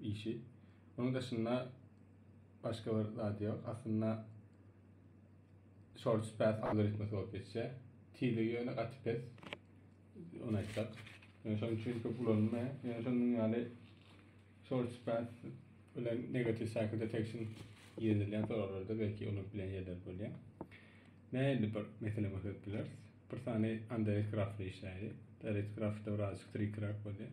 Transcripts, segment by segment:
işi. Munuň daşynda başga bir zat ýok. Aslynda shorts path algoritmasy bolup geçýär. Tizligi ýöne gaty pes. Ony aýtsak. Ýöne şonuň üçin köp ulanylmaýar. Ýöne şonuň ýaly shorts path bilen negative cycle detection ýeňilýän soraglarda belki unup bilen ýerler bolýar. Nähili bir mesele görkezip bileris? Bir sany underage grafly işläýdi. Direct grafda birazjyk trickerak bolýar.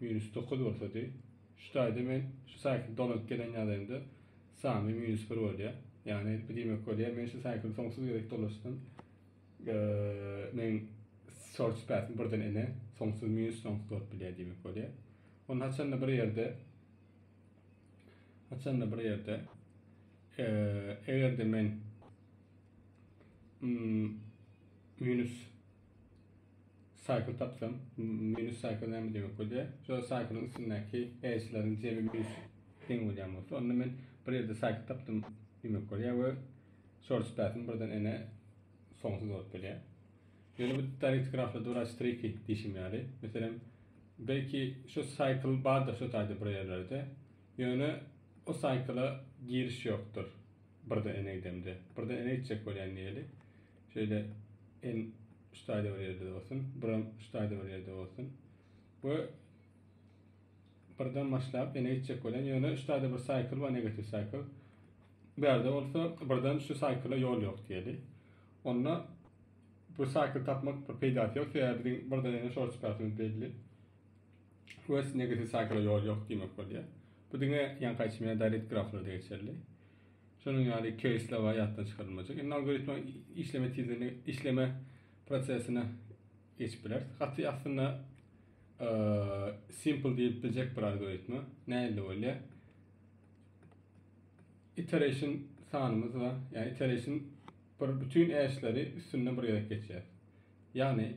Minus dokuz bolsady. Şu taýda men şu saýkly dolanyp gelen ýagdaýymda sany minus bir bolýar. Ýagny bu diýmek bolýar, men şu saýkly soňsuz gezek dolaşdym. Men search path birden ene soňsuz minus soňsuz bolup bilýär diýmek bolýar. Onu haçanda bir ýerde haçanda bir ýerde eger de men minus Saýkl tapsam, minus saýkl näme diýmek bolýar? Şol saýklyň üstündäki eýeçileriň jemi minus deň bolýan bolsa, onda men bir ýerde saýkl tapdym diýmek bolýar we short spread-im birden ene soňsuz bolup gelýär. Ýöne bu direkt grafda duran striki diýşim ýaly. Meselem, belki şu saýkl bardyr şu taýda bir ýerlerde, ýöne o saýkla giriş ýokdur. Birde ene idemde. Birde ene itjek bolýan diýeli. Şeýle en ştaýda bir ýerde bolsun, biram ştaýda bir ýerde bolsun. Bu birden başlap ene itjek bolýan, ýöne ştaýda bir saýkl bar, negativ saýkl. Bu ýerde bolsa birden şu saýkla ýol ýok diýeli. Onda bu saýkly tapmak bir peýdasy ýok, sebäbi biziň birden ene şor çykartymyz belli. Quest negatiw saýkala ýol ýok diýmek bolýar. Bu diňe ýaňky aýtmyna Darit graflarda geçerli. Şonuň ýaly keýsler bar ýatdan çykarylmajak. Indi algoritma işleme tizligine, işleme prosesine geçip biler. Gaty aslynda simple diýip biljek bir algoritma. Nähili bolýar? iteration sanymyz bar. Yani iteration bir bütün eşleri üstünde bir gezek geçýär. Yani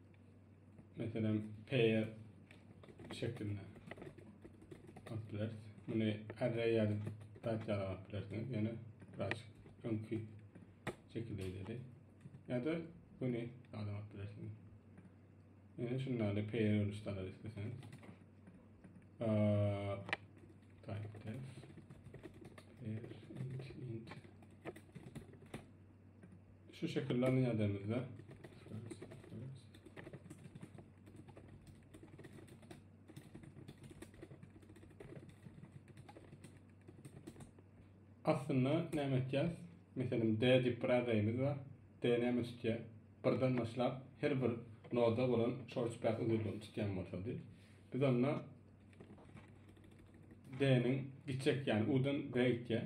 Meselem, pair şeklinde alyp bileris. Muny array ýaly zat ýaly alyp bilersiňiz. Ýöne biraz öňki şekilde edeli. Ýa-da güni adam alyp bilersiňiz. Ýöne şundaly pair görnüşde alar isleseňiz. Type def pair int int Şu şekilde nýademizde. Aslynda näme etýär? Meselem, D diýip bir arraýymyz bar. D näme tutýar? Birden başlap her bir noda bolan short path uzynlygyny tutýan bolsady. Biz onda D-niň gitjek, ýagny U-dan B gitýär.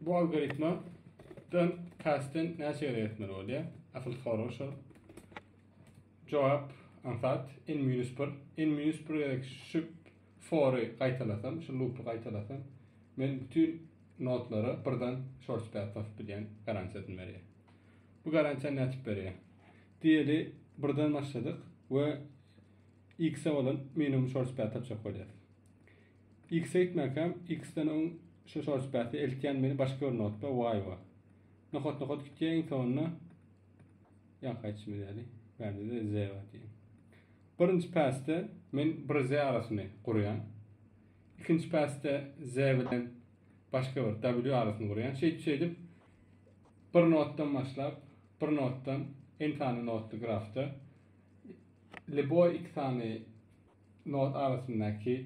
Bu algoritma dan kasten näçe ýere etmeli bolýar? Asyl soru şu. Jogap ansat n minus 1. N minus 1 gerek şu fory gaýtalasam, şu loopy gaýtalasam, men bütün notlara birden short stat tapyp bilýän garantiýasyny berýär. Bu garantiýa näçe berýär? Diýeli birden başladyk we x-e bolan minimum short stat tapjak bolýar. X-e gitmekäm, X-den öň şu şorspasy eltýän meni başga bir notba, Y-a. Nokat-nokat gitýär, iň soňunda ýaňky aýtşymy däli, bärde-de Z bar diýýän. Birinji pasde men bir Z arasyny gurýan. Ikinji pasde Z bilen başga bir W arasyny gurýan. Şeýdip-şeýdip, bir notdan başlap, bir notdan N sany notly grafda Leboý X sany Not arasyndaky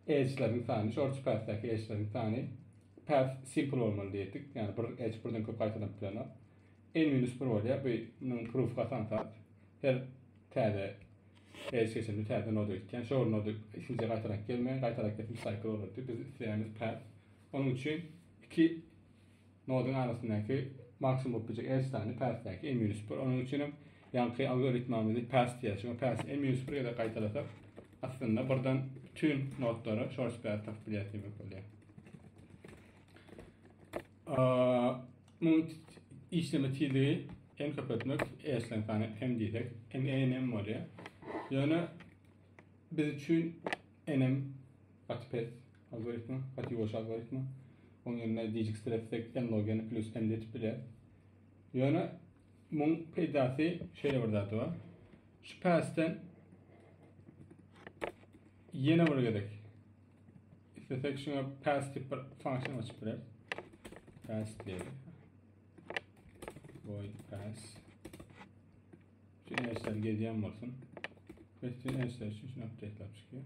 edge-leriň sany, George Path-däki edge-leriň sany Path simple bolmaly diýdik. Ýagny bir edge birden köp gaýtalanyp bilenok. N minus bir bolýar. Bu munuň proof gasan zat. Her täze edge geçende täze noda gitýär. Şol noda ikinji gaýtalanyp gelmeýär. Gaýtalanyp gitse cycle bolardy. Biz isleýämiz path. Onuň üçin iki Noduň arasyndaky maksimum bolup biljek L sany päsdäki M minus bir. Onuň üçin hem ýaňky algoritmamyzy päs diýýäs. Şuňa päsi M minus bir gezek gaýtalasak, aslynda birden bütin nodlara şors päs tapyp bilýäs diýmek bolýar. Muň işleme tizligi n köpeltmek e işlem sany m diýsek, m e n m bolýar. Ýöne biz üçin n m gaty pes. Algoritmi, Patiwaş algoritmi. Onuň ýerine dijikstiretsek, n-log-n plus n diýip bilýär. Ýöne muň peýdasy şeýle bir zat bar. Şu päsden ýene bir gezek islesek şuňa päs diýip bir funksiýa açyp bileris. Päs diýelim. Void päs. Şu näçe gezýän bolsun. Päsden näçe şu şuny update-lap çykýar.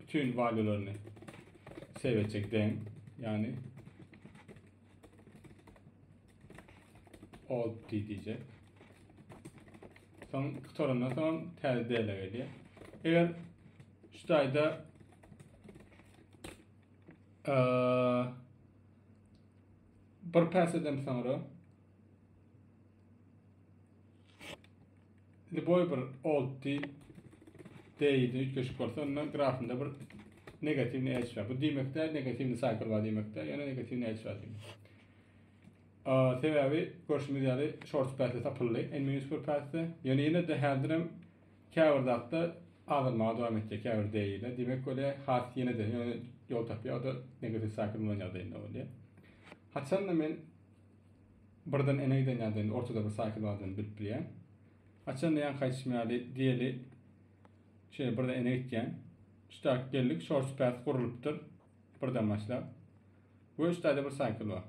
Bütün valuelerini save etjek deň. Yani alt t diyecek. Son kutorundan son tez değerle geliyor. Eğer şu tayda ee, bir pes edem sonra Indi goý bir oldty deýdi üýtgeşik bolsa onda grafynda bir negatiwny edge bar. Bu diýmek däl, negatiwny cycle bar diýmek däl, ýöne negatiwny edge bar diýmek. Sebäbi görşümiz ýaly short path tapyldy, en minus bir pathda. Ýöne ýene de häzir hem käbir zatda azalmaga dowam etdi käbir deýde. Diýmek bolýar, has ýene de ýol tapýar, o da negatiw cycle bolan ýagdaýynda bolýar. Haçan da men Birden eneýden ýa däl, ortada bir saýky bardygyny bilip bilýän. Haçanda ýaňky aýtşym ýaly, diýeli, şeýle birden ene gitýän. Üçdäki geldik, şor süpäsi gurlulypdyr, birden başlap. We üçdäde bir saýkyl bar.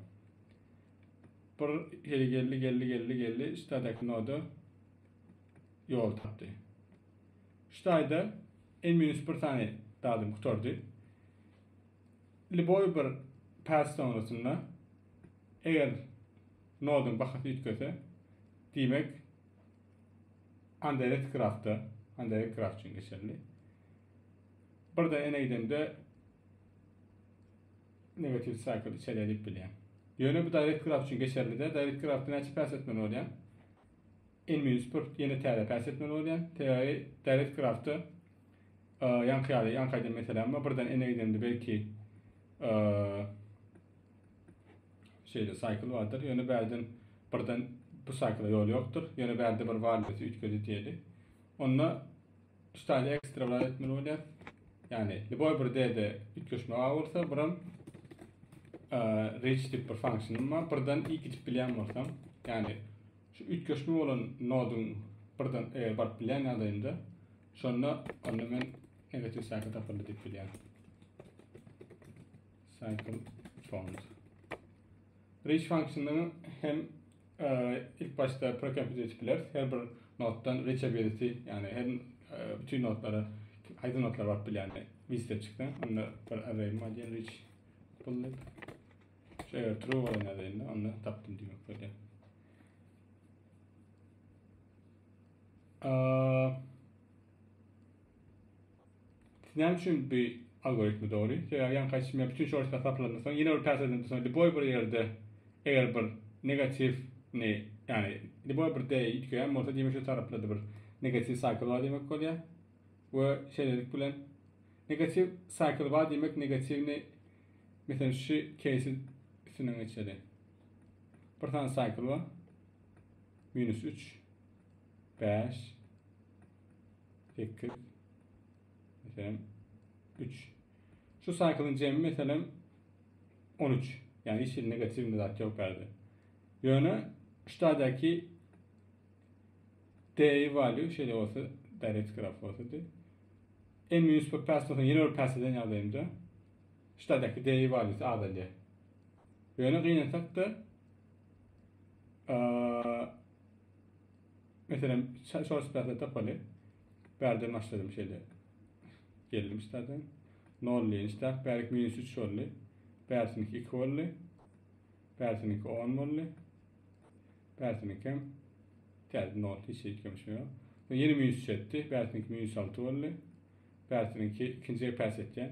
Bir heli geldi, geldi, geldi, geldi, üçdädäki noda ýol tapdy. Üçdäde N-1 sany dadym gutardy. Lýuboý bir päs soňrasynda eger noduň bahasy üýtgese, diýmek Anderes Grafda, Anderes Graf üçin geçerli. Birden ene gidende negatiw cycle içeri edip bilýär. Ýöne bu direct graf üçin geçerli-de, direct grafda näçe päs etmeli bolýar? N-1 ýene täze päs etmeli bolýar. Sebäbi direct grafda Ýaňky ýaly, ýaňky aýdan meselem bar, birden ene gidemde belki şeýle saýkl bardyr, ýöne bärden birden bu saýkla ýol ýokdur, ýöne bärde bir wallesi üýtgedi diýeli. Onda ştaýly ekstra bir etmeli bolýar. Ýagny, liboý bir derde üýtgeşme bar bolsa, biram reach diýip bir funksiýa bar, birden i gidip bilýän bolsam, ýagny şu üýtgeşme bolan noduň birden baryp bilýän ýagdaýynda Şonda onda men negativ saýka tapyldy diýip bilýän. Cycle font. Reach funksiýony hem e, ilk başda precompute edip bileris. Her bir notdan reachability, ýagny her e, bütün notlara aýdyň notlar baryp bilýän listep çykdy. Onda bir array model reach buldy. Şeýle true bolan ýagdaýynda onda tapdym diýmek bolýar. Siz näme üçin bu algoritmi dogry? Sebäbi ýaňky aýtşym ýaly bütün şortlar saplandan soň ýene bir päseden soň liboý bir ýerde eger bir negatiw ni ýani liboý bir deý ýitgeýän bolsa diýmek şu taraplady bir negatiw saýkl bar diýmek bolýar. We şeýlelik bilen negatiw saýkl bar diýmek negatiwni Mesela şu case'i üstünden geçeli. Bir tane cycle var. Minus 3. bäş, sekiz, meselem, üç. Şu saýkylyň jemi, meselem, on üç. Ýagny hiç hili negatiwny zat ýok bärde. Ýöne şu taýdaky d value şeýle bolsa, direct graf bolsady. N minus bir päs bolsa, ýene bir päs eden ýagdaýynda şu taýdaky d value azalýar. Ýöne gynansak-da, Meselem, şorst päsle tapaly. Bärde başladym şeýle. Geldim ştada. Nolly işläp, bärik minus üç boldy. Bärsiniki iki boldy. Bärsiniki on boldy. Bärsiniki hem täze nol hiç şey kömüşme ýok. Soň ýene minus üç etdi. Bärsiniki minus alty boldy. Bärsiniki ikinjige päs etýän.